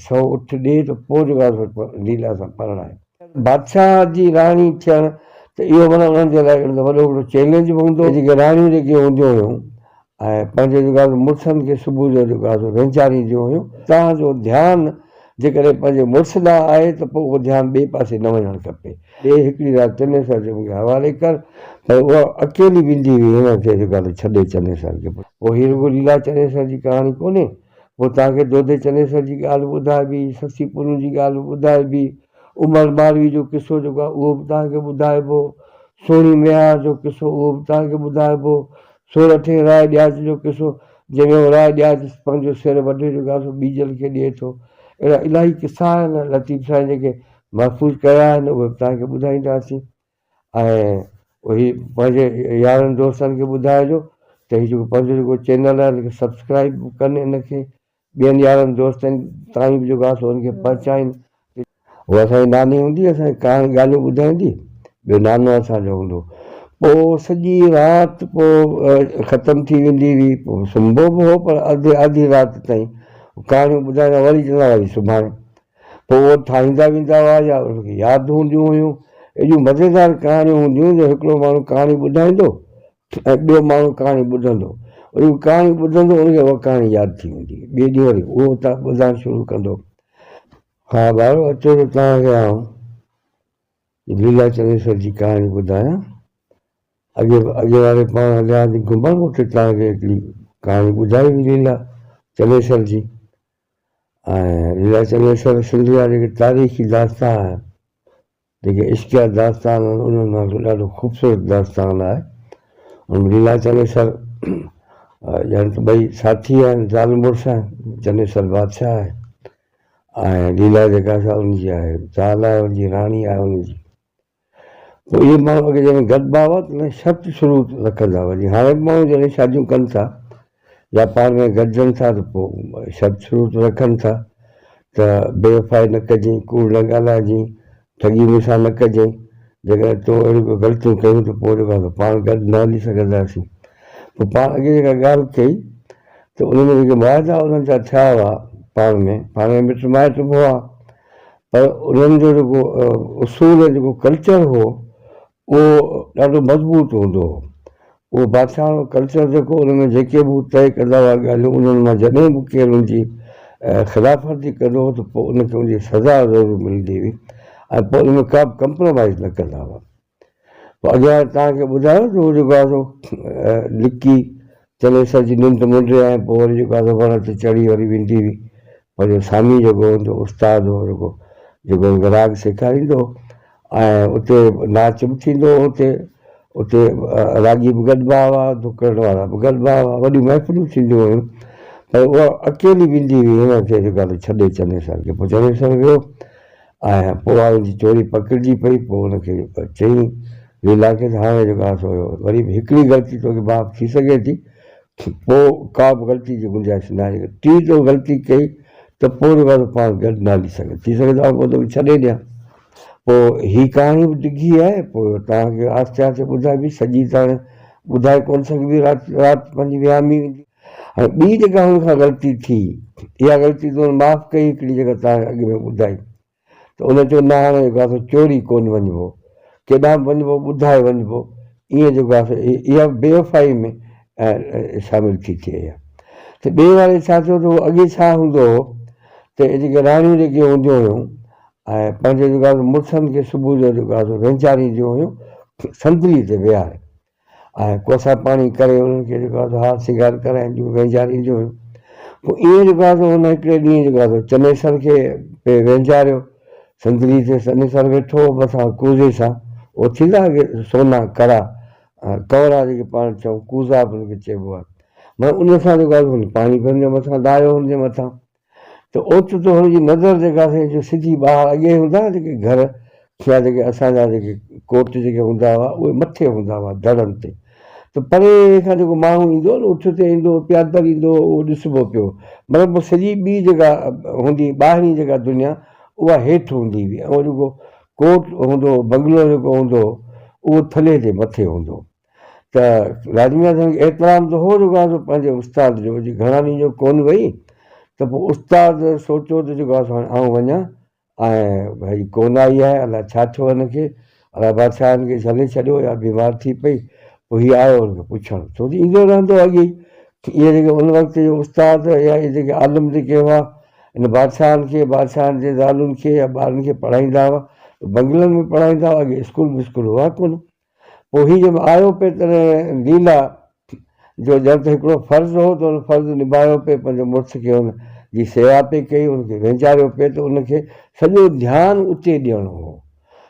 سو اٺ ڏي ته پوء جو واضح ليلا سان پرڻايو. بادشاهه جي راڻي ٿيڻ ته اهو معنيٰ انهن جي لاء ڄڻ ته وڏو وڏو چئلينج به هوندو. جيڪي راڻيون جيڪي هونديون هيون ۽ پنهنجو جيڪو آهي سو مڙسن کي صبح جو جيڪو آهي سو وينچارينديون هيون. توهان جو ڌيان جيڪڏهن پنهنجي مڙس ڏانهن آهي ته پوء اهو ڌيان ٻئي پاسي نه وڃڻ کپي. ڏي هڪڙي رات چنيسر جي مون کي حوالي ڪر. پر اها اڪيلي ويندي هئي. هن چيو جيڪو آهي سو ڇڏي چنيسر کي. پوء هي رڳو ليلا چنيسر جي ڪهاڻي ڪونهي. پوء توهان کي دودي چنيسر جي ڳالهه به ٻڌائبي، سسي پنهون جي ڳالهه به ٻڌائبي، عمر ماروي جو قصو جيڪو آهي اهو به توهان کي ٻڌائبو، سهڻي ميهار جو قصو اهو به توهان کي ٻڌائبو، سورٺين راء ڏياچ جو قصو جنهن ۾ هو راء ڏياچ پنهنجو سر وڍي جيڪو آهي سو ٻيجل کي ڏئي ٿو. اهڙا الاهي قصا آهن لطيف سائين جيڪي محفوظ ڪيا آهن اهي به توهان کي ٻڌائينداسين. ۽ اهي پنهنجي يارن دوستن کي ٻڌائجو ته هي جيڪو پنهنجو جيڪو چينل آهي ان کي سبسڪرائب به ڪن ان کي ٻين يارن دوستن تائين به جيڪو آسو ان کي پهچائين. هو اسان جي ناني هوندي اسان کي ڪهاڻي ڳالهيون ٻڌائيندي ٻيو نانو اسان جو هوندو پوء سڄي رات پوء ختم ٿي ويندي هئي پوء سمهبو به هو پر اڌ اڌي رات تائين ڪهاڻيون ٻڌائيندا وري چوندا وري سڀاڻي پوء اهو ٺاهيندا ويندا هئا يا انهن کي ياد هونديون هيون. ايڏيون مزيدار ڪهاڻيون هونديون هيون جو هڪڙو ماڻهو ڪهاڻي ٻڌائيندو ۽ ٻيو ماڻهو ڪهاڻي ٻڌندو. وري به ڪهاڻي ٻڌندو ان کي اها ڪهاڻي ياد ٿي ويندي. ٻئي ڏينهن وري اهو اتان ٻڌائڻ شروع ڪندو. ها ٻارو اچو ته توهان کي آئون ليلا چنيسر جي ڪهاڻي ٻڌايان. اڳي اڳي واري پاڻ هليا هئاسين گهمڻ اتي توهان کي هڪڙي ڪهاڻي ٻڌائي هئي ليلا چنيسر جي. ۽ ليلا چنيسر سنڌ جا جيڪي تاريخي داستان آهن جيڪي عشقيا داستان آهن انهن مان هڪ ڏاڍو خوبصورت داستان آهي ان ۾ ليلا چنيسر ڄڻ ته ٻئي ساٿي آهن زال مڙس آهن چنيسر بادشاهه آهي ۽ ليلا جيڪا سا ان جي آهي زال آهي ان جي راڻي آهي ان جي پوء اهي ماڻهو اڳي جڏهن گڏبا هئا ته انهن شرط شروط رکندا وڃي هاڻي به ماڻهو جڏهن شاديون ڪن ٿا يا پاڻ ۾ گڏجن ٿا ته پوء شرط شروط رکن ٿا ته بي وفائي نه ڪجين، ڪوڙ نه ڳالهائجين، ٺڳي مون سان نه ڪجين، جيڪڏهن تو اهڙيون ڪو غلطيون ڪيون ته پوء جيڪو اسان پاڻ گڏ نه هلي سگهنداسين. پوء پاڻ اڳي جيڪا ڳالهه ڪئي ته ان ۾ جيڪي معاهدا انهن جا ٿيا هئا پاڻ ۾ پاڻ ۾ مٽ مائٽ به هئا پر انهن جو جيڪو اصول ۽ جيڪو ڪلچر هو اهو ڏاڍو مضبوط هوندو هو. اهو بادشاهاڻو ڪلچر جيڪو ان ۾ جيڪي به هو طئي ڪندا هئا ڳالهيون انهن مان جڏهن به ڪير ان جي خلاف ورزي ڪندو هو ته پوء ان کي ان جي سزا ضرور ملندي هئي ۽ پوء ان ۾ ڪا به ڪمپرومائيز نه ڪندا هئا. اڳيان توهان کي ٻڌايو جو هو جيڪو آهي سو لڪي چلي سج ننڊ منڊ ۽ پوء وري جيڪو آهي سو وڻ تي چڙهي وري ويندي هئي پنهنجو سامي جيڪو هوندو هو استاد هو جيڪو جيڪو هن کي راڳ سيکاريندو هو ۽ اتي ناچ به ٿيندو هو اتي اتي راڳي به گڏبا هئا دڪڙ وارا به گڏبا هئا وڏيون محفلون ٿينديون هيون پر اها اڪيلي ويندي هئي هن کي جيڪو آهي سو ڇڏي چنيسر کي پوء چنيسر ويو آهيان پوء هن جي چوري پڪڙجي پئي پوء هن کي چيائين وي لاکي ته هاڻي جيڪو آهيان سو هيو وري به هڪڙي غلطي توکي معاف ٿي سگهي ٿي پوء ڪا به غلطي جي گنجائش ناهي ٽي تو غلطي ڪئي ته پوء جيڪو آهي پاڻ گڏ نه هلي سگهي ٿي سگهي ٿو پوء توکي ڇڏي ڏيان پوء هي ڪهاڻي به ڊگهي آهي پوء توهان کي آهستي آهستي ٻڌائبي سڄي ته هاڻي ٻڌائي ڪونه سگهبي رات رات پنهنجي وهامي ۽ ٻي جيڪا هن کان غلطي ٿي اها غلطي تو معاف ڪئي هڪڙي جيڪا تان اڳ ۾ ٻڌائي ته ان چيو نه هاڻي جيڪو آسو چوري ڪون وڃبو ڪيڏانهن به وڃبو ٻڌائي وڃبو ايئن جيڪو آسو اها بيوفائي ۾ شامل ٿي ٿئي ها ته ٻي واري ڇا ٿيو ته اڳي ڇا هوندو هو ته جيڪي راڻيون جيڪي هونديون هيون ۽ پنهنجي جيڪو آسو مڙسن کي صبح جو جيڪو آسو وينچارينديون هيون سندلي تي ويهاري ۽ ڪوسا پاڻي ڪري انهن کي جيڪو آهي هار سينگار ڪرائين جو وينجارينديون هيون پوء ائين جيڪو آهي سو هن هڪڙي ڏينهن جيڪو آهي سو چنيسر کي پئي وينجاريو سندري تي چنيسر ويٺو هو مٿان ڪوزي سان او ٿيندا آهي سونا ڪرا ڪورا جيڪي پاڻ چئون ڪوزا به هن کي چئبو آهي مگر ان سان جيڪو آهي سو پاڻي به هن جي مٿان ڊاهيو هن جي مٿان ته اوچتو هن جي نظر جيڪا سي جو سڌي ٻاهر اڳيئي هوندا ها جيڪي گهر يا جيڪي اسان جا جيڪي ڪوٽ جيڪي هوندا هئا اهي مٿي هوندا هئا دڙن تي ته پري کان جيڪو ماڻهو ايندو هو اٺ تي ايندو هو پيادل ايندو هو اهو ڏسبو پيو مطلب پوء سڄي ٻي جيڪا هوندي ٻاهرين جيڪا دنيا اها هيٺ هوندي هئي ۽ اهو جيڪو ڪوٽ هوندو هو بنگلو جيڪو هوندو هو اهو ٿلهي تي مٿي هوندو هو. ته راڄ ميان سائين کي احترام ته هو جيڪو آهي سو پنهنجي استاد جو جي گهڻا ڏينهن جو ڪونه وئي ته پوء استاد سوچيو ته جيڪو آهي سو هاڻي آئون وڃان ۽ هي ڪونه آئي آهي الاء ڇا ٿيو هن کي الاء بادشاهه هن کي جهلي ڇڏيو يا بيمار ٿي پئي پوء هي آيو هن کي پڇڻ ڇو جو ايندو رهندو اڳي اهي جيڪي ان وقت جو استاد يا اهي جيڪي عالم جيڪي هئا ان بادشاهن کي بادشاهن جي زالن کي يا ٻارن کي پڙهائيندا هئا بنگلن ۾ پڙهائيندا هئا اڳي اسڪول وسڪول هئا ڪونه پوء هي جب آيو پي تڏهن ليلا جو ڄڻ ته هڪڙو فرض هو ته ان فرض نڀايو پي پنهنجو مڙس کي ان جي سيوا پي ڪئي ان کي وينچاريو پي ته ان کي سڄو ڌيان اتي ڏيڻو هو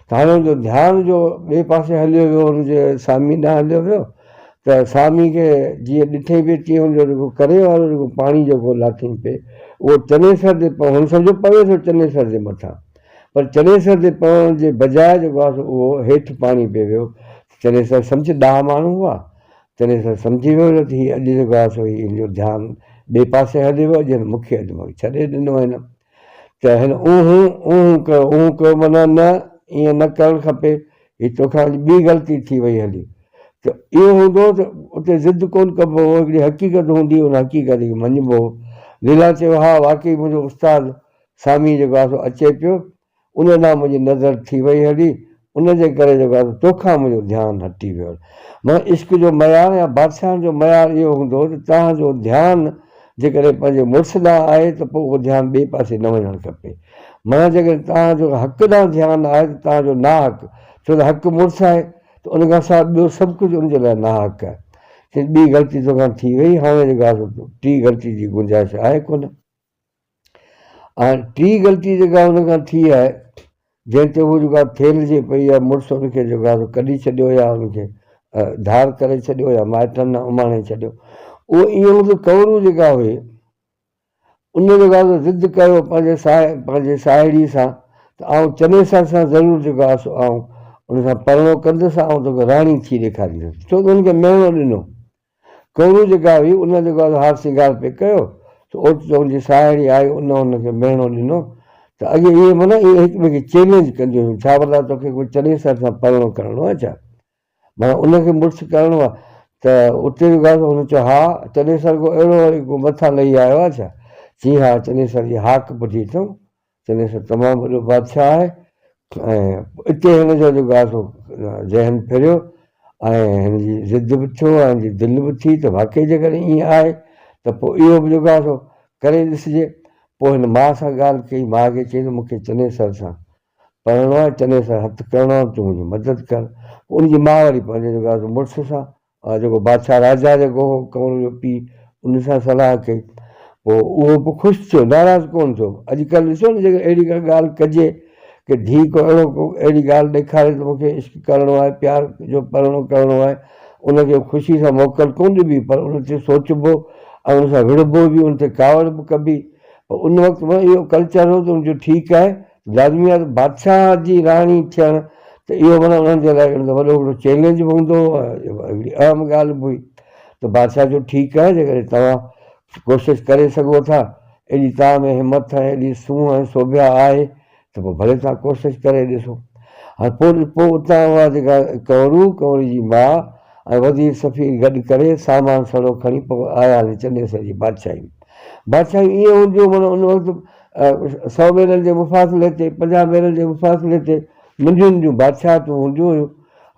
ته هاڻي ان جو ڌيان جو ٻئي پاسي هليو ويو ان جي سامي ڏانهن هليو ويو ته سامي کي جيئن ڏٺئي پي تيئن ان جو جيڪو ڪري وارو جيڪو پاڻي جيڪو لاٿين پي اهو چنيسر جي هن سمجهيو پوي ٿو چنيسر جي مٿان پر چنيسر تي پوڻ جي بجاء جيڪو آهي سو اهو هيٺ پاڻي پئي ويو ته چنيسر سمجهه ڏاها ماڻهو هئا. چنيسر سمجهي ويو ته هي اڄ جيڪو آهي سو هن جو ڌيان ٻئي پاسي هلي ويو، اڄ هن مون کي اڌ مان ڇڏي ڏنو آهي نه ته هن اونهون اونهون ڪيو اونهون ڪيو معنيٰ نه ائين نه ڪرڻ کپي هي تو کان اڄ ٻي غلطي ٿي وئي هلي ته اهو هوندو ته اتي ضد ڪونه ڪبو هو هڪڙي حقيقت هوندي ان حقيقت کي مڃبو هو ليلان چيو ها واقعي منهنجو استاد سامي جيڪو آهي سو اچي پيو، ان ڏانهن منهنجي نظر ٿي وئي هلي، ان جي ڪري جيڪو آهي سو توکان منهنجو ڌيان هٽي ويو. مگر عشق جو معيار يا بادشاهن جو معيار اهو هوندو ته توهان جو ڌيان جيڪڏهن پنهنجي مڙس ڏانهن آهي ته پوء اهو ڌيان ٻئي پاسي نه وڃڻ کپي. مگر جيڪڏهن توهان جو حق ڏانهن ڌيان آهي ته توهان جو ناحق، ڇو ته حق مڙس آهي ته ان کان سواء ٻيو سڀ ڪجهه ان جي لاء ناحق آهي. چيس ٻي غلطي توکان ٿي وئي، هاڻي جيڪو آهي سو ٽي غلطي جي گنجائش آهي ڪونه. هاڻ ٽي غلطي جيڪا هن کان ٿي آهي جنهن تي هو جيڪا ڦيلجي پئي يا مڙس هن کي جيڪا سو ڪڍي ڇڏيو يا هن کي ڌار ڪري ڇڏيو يا مائٽن نه اماڻي ڇڏيو اهو ايئن هو ته ڪنورو جيڪا هئي ان جيڪا سو ضد ڪيو پنهنجي ساهي پنهنجي ساهيڙي سان ته آئون چنيسر سان ضرور جيڪا سو آئون ان سان پرڻو ڪندس آئون توکي راڻي ٿي ڏيکاريندس ڇو ته هن کي مهڻو ڏنو ڪورو جيڪا هئي ان جيڪو هار سينگار پئي ڪيو ته اوچتو ان جي ساهيڙي آئي ان ان کي ميڻو ڏنو ته اڳي اهي مئن اهي هڪ ٻئي کي چئلينج ڪنديون هيون ڇا ڀلا توکي ڪو چني سر سان پرڻو ڪرڻو آهي ڇا مئن ان کي مڙس ڪرڻو آهي ته اتي جيڪو آهي هن چيو ها چني سر ڪو اهڙو وري ڪو مٿان لهي آيو آهي ڇا چيائين ها چني سر جي هاڪ ٻڌي اٿم تنهن سان تمام وڏو بادشاهه آهي ۽ اتي هن جو جيڪو آهي سو ذهن ڦريو ۽ هن جي ضد به ٿيو ۽ هن جي دل به ٿي ته واقعي جيڪڏهن ايئن آهي ته پوء اهو به جيڪو آهي سو ڪري ڏسجي. پوء هن ماء سان ڳالهه ڪئي، ماء کي چيائين ته مون کي چنيسر سان پرڻڻو آهي، چنيسر هٿ ڪرڻو آهي، تون منهنجي مدد ڪر. پوء ان جي ماء وري پنهنجي جيڪو آهي سو مڙس سان ها جيڪو بادشاهه راجا جيڪو هو ڪنور جو پيء ان سان صلاح ڪئي پوء اهو به خوش ٿيو ناراض ڪونه ٿيو اڄڪلهه ڏسو نه جيڪڏهن اهڙي ڪا ڳالهه ڪجي ڪي ڌيء ڪو اهڙو ڪو اهڙي ڳالهه ڏيکاري ته مون کي عشق ڪرڻو آهي پيار جو پرڻو ڪرڻو آهي ان کي خوشي سان موڪل ڪونه ڏبي پر ان تي سوچبو ۽ ان سان وڙهبو به ان تي ڪاوڙ به ڪبي پر ان وقت ۾ اهو ڪلچر هو ته ان جو ٺيڪ آهي ولاديمير بادشاهه جي راڻي ٿيڻ ته اهو معنيٰ انهن جي لاء ته وڏو وڏو چئلينج به هوندو هو ۽ هڪڙي اهم ڳالهه به هئي ته بادشاهه چيو ٺيڪ آهي جيڪڏهن توهان ڪوشش ڪري سگهو ٿا ايڏي تاهه ۾ همٿ ۽ ايڏي سونهن ۽ سوڀيا آهي ته پوء ڀلي توهان ڪوشش ڪري ڏسو هاڻي پوء پوء اتان اها جيڪا ڪنورو، ڪنوري جي ماء ۽ وزير سفير گڏ ڪري سامان سڙو کڻي پوء آيا هلي چنيسر جي بادشاهي ۾. بادشاهيون ائين هونديون هيون معنيٰ ان وقت سؤ ميلن جي مفاصلي تي، پنجاهه ميلن جي مفاصلي تي منجهن جون بادشاهتون هونديون هيون.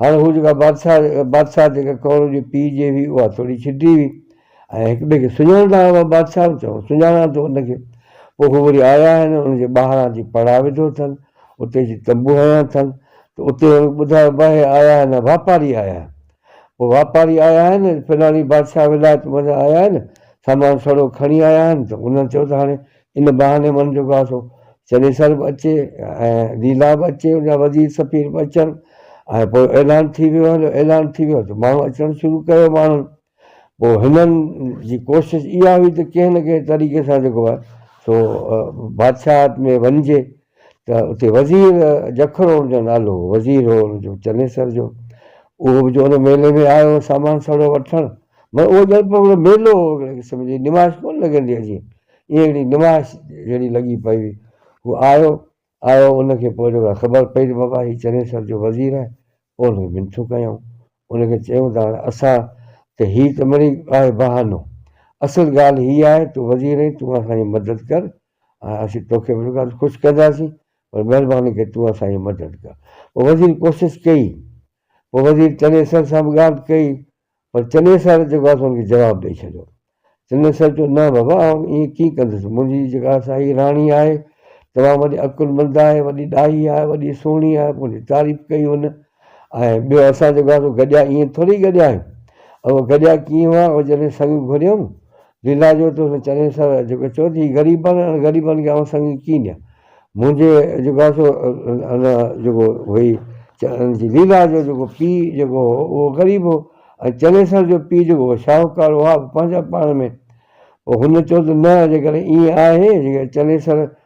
هاڻ هو جيڪا بادشاهه، بادشاهه جيڪا ڪنور جي پيء جي هئي، اها ٿوري ڇٽي هئي ۽ هڪ ٻئي کي سڃاڻندا هئا، اها بادشاهه به چڱو سڃاڻان ٿو ان کي. پوء هو وري آيا آهن، ان جي ٻاهران جي پڙاء وڌو اٿن، اتي جي تنبو هنيا اٿن ته اتي هن ٻڌايو، بهي آيا هي نه واپاري آيا هي. پوء واپاري آيا آهن، فلاڻي بادشاهه ولايت مان آيا آهن، سامان سڙو کڻي آيا آهن ته انهن چيو ته هاڻي ان بهاني من جو ڪا سو چنيسر به اچي ۽ ليلا به اچي ان جا وزير سفير به اچن ۽ پوء اعلان ٿي ويو هلو اعلان ٿي ويو ته ماڻهو اچڻ شروع ڪيو ماڻهن پوء هنن جي ڪوشش اها هئي ته ڪنهن نه ڪنهن طريقي سان جيڪو آهي سو بادشاهت ۾ وڃجي ته اتي وزير جکر هو ان جو نالو هو وزير هو ان جو چنيسر جو اهو به جو ان ميلي ۾ آيو سامان سڙو وٺڻ مگر اهو ڄڻ پر هڪڙو ميلو هو هڪڙي قسم جي نمائش ڪونه لڳندي آهي جيئن ائين هڪڙي نمائش جهڙي لڳي پئي هئي هو آيو آيو ان کي پوء جيڪا خبر پئي ته بابا هي چنيسر جو وزير آهي پوء ان کي منٿون ڪيائون ان کي چيائون ته هاڻي اسان ته هي ته مڙئي آهي بهانو اصل ڳالهه هي آهي تو وزير آهين تون اسان جي مدد ڪر ۽ اسين توکي به لڳان خوش ڪنداسين پر مهرباني ڪري تون اسان جي مدد ڪر. پوء وزير ڪوشش ڪئي. پوء وزير چنيسر سان به ڳالهه ڪئي پر چنيسر جيڪو آهي سو ان کي جواب ڏئي ڇڏيو. چنيسر چيو نه بابا آئون ائين ڪيئن ڪندس منهنجي جيڪا آهي سا هي راڻي آهي تمام وڏي عقلمند آهي وڏي ڏاهي آهي وڏي سهڻي آهي منهنجي تعريف ڪئي هن ۽ ٻيو اسان جيڪو آسو گڏيا ائين ٿوري گڏيا آهيون اهو گڏيا ڪيئن هئا اهو جڏهن سڱيون گهريائون ليلا جو ته هن چرين سر جيڪو چيو ته هي غريب آهن انهن غريبن کي آئون سڱيون ڪيئن ڏيان منهنجي جيڪو آسو ان جيڪو هئي ان جي ليلا جو جيڪو پيء جيڪو هو اهو غريب هو ۽ چرين سر جو پيء جيڪو هو شاهوڪار هئا به پنهنجا پاڻ ۾ پوء هن چيو ته نه جيڪڏهن ائين آهي جيڪڏهن چرين سر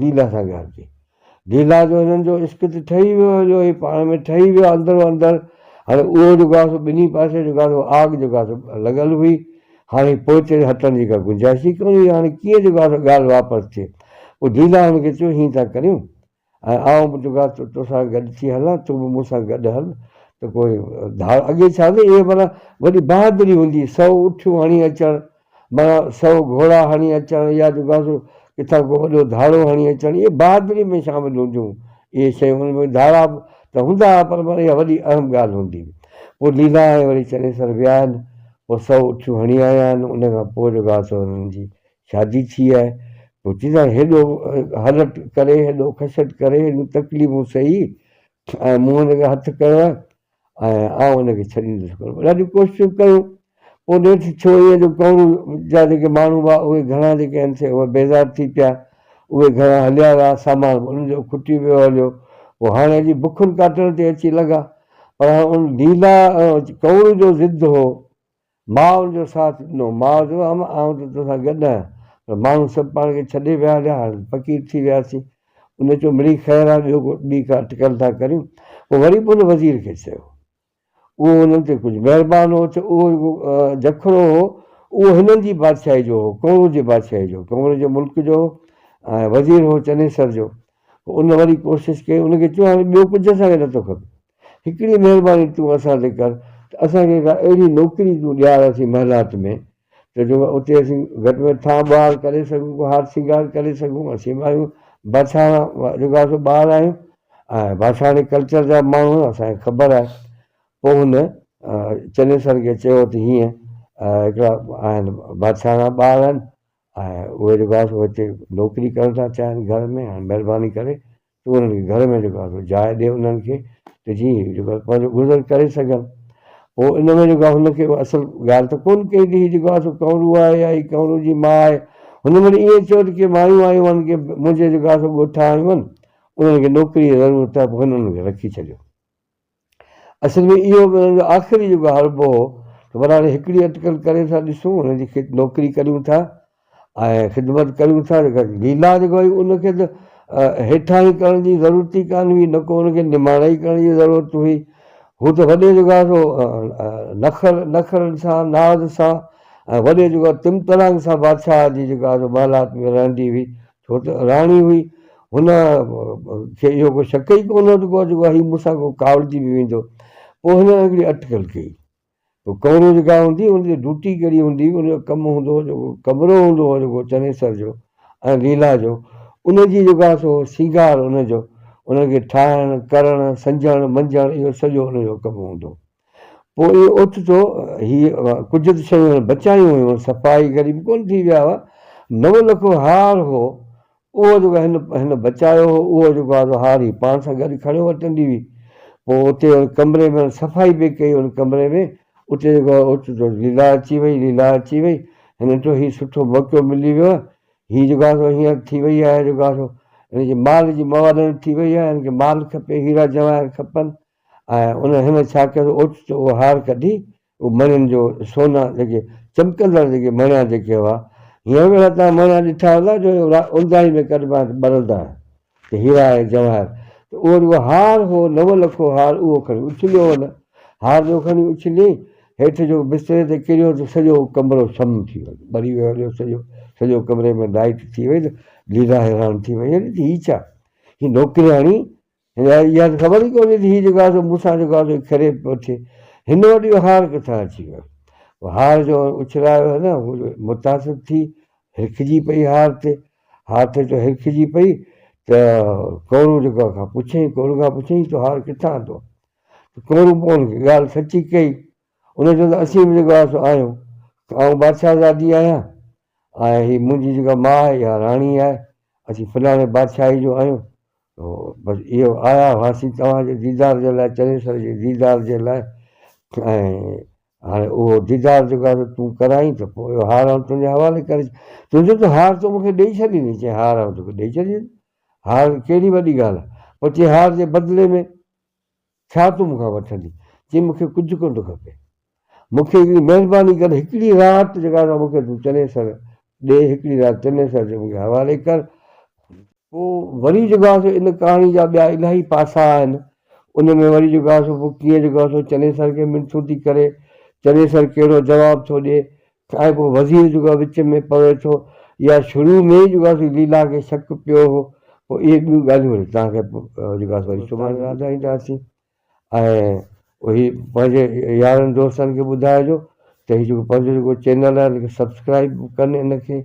گيلا سان ويهار ٿي. گيلا جو هنن جو عشق ته ٺهي ويو هو جو هي پاڻ ۾ ٺهي ويا اندر و اندر هاڻي اهو جيڪو آهي سو ٻنهي پاسي جيڪو آهي سو آگ جيڪو آهي سو لڳل هئي هاڻي هي پوئتي هٽڻ جي ڪا گنجائش ئي ڪونه هئي هاڻي ڪيئن جيڪو آهي سو ڳالهه واپس ٿئي پوء گيلا هن کي چيو هيئن ٿا ڪريون ۽ آئون به جيڪو آهي تو سان گڏ ٿي هلان تون به مون سان گڏ هل ته ڪوئي ڌاڙ اڳي ڇا ٿي اهي معنيٰ وڏي بهادري هوندي سؤ اٺيون هڻي اچڻ معنيٰ سؤ گهوڙا هڻي اچڻ يا جيڪو آهي سو ڪٿان ڪو وڏو ڌاڙو هڻي اچڻ اهي بهادري ۾ شامل هونديون اهي شيون ان ۾ ڌاڙا به ته هوندا هئا پر معنيٰ اها وڏي اهم ڳالهه هوندي هئي. پوء ليلا ۽ وري چنيسر ويا آهن پوء سؤ اٺيون هڻي آيا آهن ان کان پوء جيڪو آهي سو هنن جي شادي ٿي آهي پوء چيندو آهي هيڏو هلٽ ڪري هيڏو کشٽ ڪري هيڏيون تڪليفون سهي ۽ مون هن کي هٿ ڪيو آهي ۽ آئون هن کي ڇڏيندس ڪونه. ڏاڍيون ڪوششون ڪيون، پوء نيٺ ڇو ايئن جو ڪنور جا جيڪي ماڻهو هئا، اهي گهڻا جيڪي هن سين هئا بيزار ٿي پيا. اهي گهڻا هليا ويا، سامان به انهن جو کٽي ويو هليو. پوء هاڻي جي بکن ڪاٽڻ تي اچي لڳا. پر هاڻي ان ليلا ۽ ڪنور جو ضد هو. ماء ان جو ساٿ ڏنو. ماء چيو، ام، آئون ته تو سان گڏ آهيان، پر ماڻهو سڀ پاڻ کي ڇڏي ويا هليا، هاڻ ته فقير ٿي وياسين. ان چيو، مڙئي خير آهي، ٻيو ڪو ٻي ڪا اٽڪل ٿا ڪريون. پوء وري به ان وزير کي چيو. اهو هنن تي ڪجهه مهربان هو ته اهو جيڪو جکڙو هو، اهو هنن جي بادشاهي جو هو، ڪنور جي بادشاهي جو، ڪنور جي ملڪ جو هو ۽ وزير هو چنيسر جو. پوء ان وري ڪوشش ڪئي. ان کي چيو، هاڻي ٻيو ڪجهه اسان کي نٿو کپي. هڪڙي مهرباني تون اسان تي ڪر ته اسان کي ڪا اهڙي نوڪري تون ڏيار اسين محلات ۾ ته جو اتي اسين گهٽ ۾ گهٽ ٿانء ٻهار ڪري سگهون ڪو هار سينگار ڪري سگهون اسين به آهيون ڀرسان جيڪو اسين ٻار آهيون ۽ ڀرساڻي ڪلچر جا به ماڻهو اسان کي خبر آهي پوء هن چنيسر کي چيو ته هيئن هڪڙا آهن ڀرساڻا ٻار آهن ۽ اهي جيڪو آهي سو هتي نوڪري ڪرڻ ٿا چاهين گهر ۾ هاڻي مهرباني ڪري تون انهن کي گهر ۾ جيڪو آهي سو جاء ڏي انهن کي ته جيئن هي جيڪو آهي پنهنجو گذر ڪري سگهن. پوء ان ۾ جيڪو آهي هن کي اصل ڳالهه ته ڪونه ڪئي ته هي جيڪو آهي سو ڪنورو آهي يا هي ڪنورو جي ماء آهي. هن وري ائين چيو ته ڪي مايون آيون آهن ڪي منهنجي جيڪو آهي سو ڳوٺ آيون آهن انهن کي نوڪريء جي ضرورت آهي پوء هن انهن کي رکي ڇڏيو. اصل ۾ اهو به هنن جو آخري جيڪو حربو هو ته وراڻي هڪڙي اٽڪل ڪري ٿا ڏسون هن جي کي نوڪري ڪريون ٿا ۽ خدمت ڪريون ٿا جيڪا ليلا جيڪو هئي ان کي ته هيٺاهين ڪرڻ جي ضرورت ئي ڪانه هئي نه ڪو ان کي نماڻي ڪرڻ جي ضرورت هئي هو ته وڏي جيڪو آهي سو نخر نخرن سان ناز سان ۽ وڏي جيڪو تمتراڻ سان بادشاهه جي جيڪو آهي سو محلات ۾ رهندي هئي ڇو ته راڻي هئي. هن کي اهو ڪو شڪ ئي ڪونه هو ته ڪو جيڪو آهي هي مون سان ڪو ڪاوڙجي به ويندو. پوء هن هڪڙي اٽڪل ڪئي. پوء ڪمرو جيڪا هوندي هئي ان جي ڊوٽي ڪهڙي هوندي هئي ان جو ڪم هوندو هو جيڪو ڪمرو هوندو هو جيڪو چنيسر جو ۽ ليلا جو ان جي جيڪو آهي سو سينگار ان جو انهن کي ٺاهڻ ڪرڻ سنجهڻ منجهڻ اهو سڄو ان جو ڪم هوندو هو. پوء اهو اوچتو هي ڪجهه ته شيون بچايون هيون، صفا ئي غريب ڪونه ٿي ويا هئا. نو لکو هار هو، اهو جيڪو هن هن بچايو هو، اهو جيڪو آهي سو هار هي پاڻ سان گڏ کڻيو هو ٽنڊي هئي. پوء اتي ان ڪمري ۾ صفائي پئي ڪئي ان ڪمري ۾، اتي جيڪو آهي اوچتو ليلا اچي وئي، ليلا اچي وئي، هن ڏٺو هي سٺو موقعو ملي ويو آهي، هي جيڪو آهي سو هينئر ٿي وئي آهي جيڪو آهي سو هن جي مال جي موارنت ٿي وئي آهي، هن کي مال کپي، هيرا جواهر کپن، ۽ ان هن ڇا ڪيو اوچ تي اهو هار ڪڍي اهو مڻين جو سونا جيڪي چمڪندڙ جيڪي مڻيا جيڪي هئا هينئر به اهڙا توهان مڻيا ڏٺا هوندا جو اونداهي ۾ ڪڍبا آهن ٻرندا آهن ته هيرا ۽ جواهر ته اهو جيڪو هار هو نو لکو هار اهو کڻي اڇليو هن هار جو کڻي اڇلي هيٺ جو بستري تي ڪريو ته سڄو ڪمرو سم ٿي ويو ٻري ويو هليو سڄو سڄو ڪمري ۾ لائيٽ ٿي وئي ته ليلا حيران ٿي وئي اڙي هي ڇا هي نوڪرياڻي هن کي اها ته خبر ئي ڪونهي ته هي جيڪو آهي سو مون سان جيڪو آهي سو ڪري پيو ٿي. هن وٽ اهو هار ڪٿان اچي ويو؟ هو هار جو اڇلايو هن، هو متعصب ٿي هرکجي پئي هار تي. هار تي جو هرکجي پئي ته ڪورو جيڪو آهي کان پڇيائين، ڪورو کان پڇيائين ته هار ڪٿان آندو؟ ته ڪورو پوء هن کي ڳالهه سچي ڪئي. هن چيو ته اسين به جيڪو آهي سو آهيون، آئون بادشاهه زادي آهيان ۽ هي منهنجي جيڪا ماء آهي اها راڻي آهي، اسين فلاڻي بادشاهي جون آهيون، سو بس اهو آيا هئاسين توهان جي ديدار جي لاء، چنيسر جي ديدار جي لاء ۽ هاڻي اهو ديدار جيڪو آهي سو تون ڪرائين ته پوء اهو هار آئون تنهنجي حوالي ڪري ڇڏيندس، تنهنجو هار تون مون کي ڏئي ڇڏيندين، چيائين هار آئون توکي ڏئي ڇڏيندس، هار ۾ ڪهڙي وڏي ڳالهه آهي، پوء چيائين هار جي بدلي ۾ ڇا تون مون کان وٺندي؟ چيائين مون کي ڪجهه ڪونه ٿو کپي. مون کي هڪڙي مهرباني ڪر هڪڙي رات جيڪا سا مون کي تون چني سر ڏي هڪڙي رات چني سر جي مون کي حوالي ڪر. پوء وري جيڪو آهي سو ان ڪهاڻي جا ٻيا الاهي پاسا آهن ان ۾ وري جيڪو آهي سو پوء ڪيئن جيڪو آهي سو چني سر کي منٿون ٿي ڪري چني سر ڪهڙو جواب ٿو ڏي سائين ڪو وزير جيڪو وچ ۾ پوي ٿو يا شروع ۾ ئي جيڪو سو ليلا کي شڪ پيو هو پوء اهي ٻيون ڳالهيون وري توهان کي جيڪو سو وري سڀاڻي ٻڌائينداسين ۽ اهي پنهنجي يارن دوستن کي ٻڌائجو ته هي جيڪو پنهنجو جيڪو چينل آهي ان کي سبسڪرائب به ڪن ان کي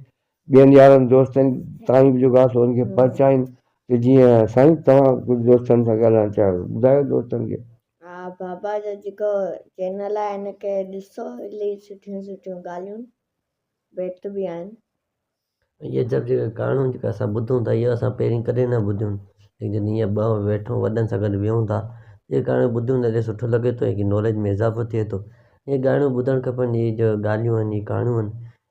ٻين يارن دوستن تائين به جيڪو سو ان کي پهچائين ته جيئن سائين توهان ڪجهه دوستن سان ڳالهائڻ چاهيو ٻڌايو دوستن کي ها بابا جو جيڪو چينل آهي ان کي ڏسو الي سٺيون سٺيون ڳالهيون بيت به آهن اهي جب جيڪا ڪهاڻيون جيڪا اسان ٻڌون ٿا اهي اسان پهرين ڪڏهن نه ٻڌيون ليڪن جڏهن ائين ٻه ويٺون وڏن سان گڏ ويهون ٿا اهي ڪهاڻيون ٻڌيون ته الي سٺو لڳي ٿو هڪ ناليج ۾ اضافو ٿئي ٿو اهي ڳاڻيون ٻڌڻ کپن اهي جو ڳالهيون آهن اهي ڪهاڻيون آهن